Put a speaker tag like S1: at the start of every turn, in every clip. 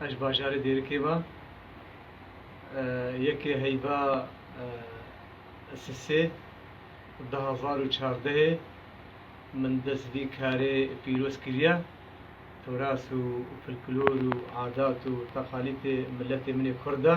S1: Eş bajarê Dêrikê va yekê heyva Sisê di hezar û çardehê min dest vî karê pîroz kiriya. Turas û folklor û adat û teqalîtê miletê min ê Kurd a.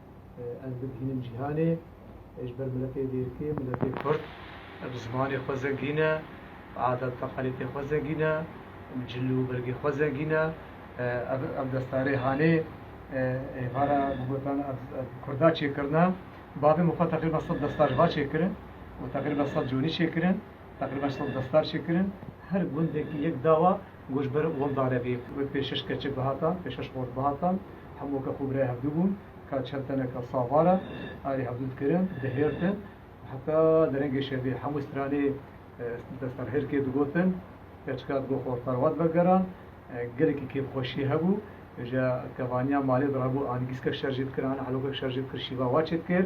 S1: Ez dibihînim cîhanê ji ber miletê dêrikê, miletê kurd bi zimanê xwe zengîn e, bi adet teqalîtên xwe zengîn e, bi cil û bergê xwe zengîn e. Ev ev destarê hanê êvara bi gotan ev ev kurda çêkirina. Bavê min xwe teqrîben sed destar ji va çêkirin û teqrîben sed conî çêkirin. Teqrîben sed destar çêkirin. Her gundekî yek dawa Goşber Woldare vê wê pêşeş keçik bihata, pêşeş xort bihata, hemû ke xwe birayê hevdu bûn, ka çend teneke savar e, erê hevdu dikirin, dihêrtin, heta derengê şevê hemû stranê destserhêrkê digotin, keçika digot xort perwat vegeran, gelekî kêfxweşî hebû, ji kevaniya malê dirabû an gîskek şer jê dikir an helokek şer jê dikir şîva wa çêdikir.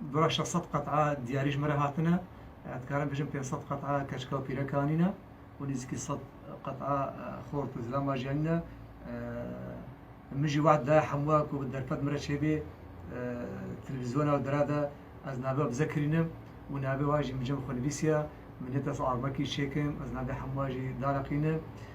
S1: Bira şeş sed qet'a diyarî ji min re hatine, ez dikarim bijim pênc sed qet'a keçika û pîrek anîne û nêzîkî sed qet'a xort û zilam ajiyanîne. Min jî weht daye hemû we ku derfet min re çêbê televîzyona û dere de ez navê we bize kirînim û navê we jî min cem xwe nivîsiya. Min nê dest armekî çêkim, ez navê hemû we jî daliqînim.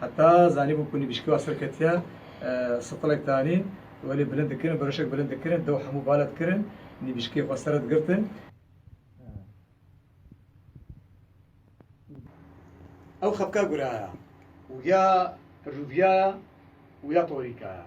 S1: Heta zanîbû ku nivîskûa serketiya sitilek danî welê bilind dikirin, beroşek bilind dikirin, dew hemû bale dikirin, nivîskê xwe sere digirtin. Ew xepka guraya û ya rûviya ya û ya torîka ya.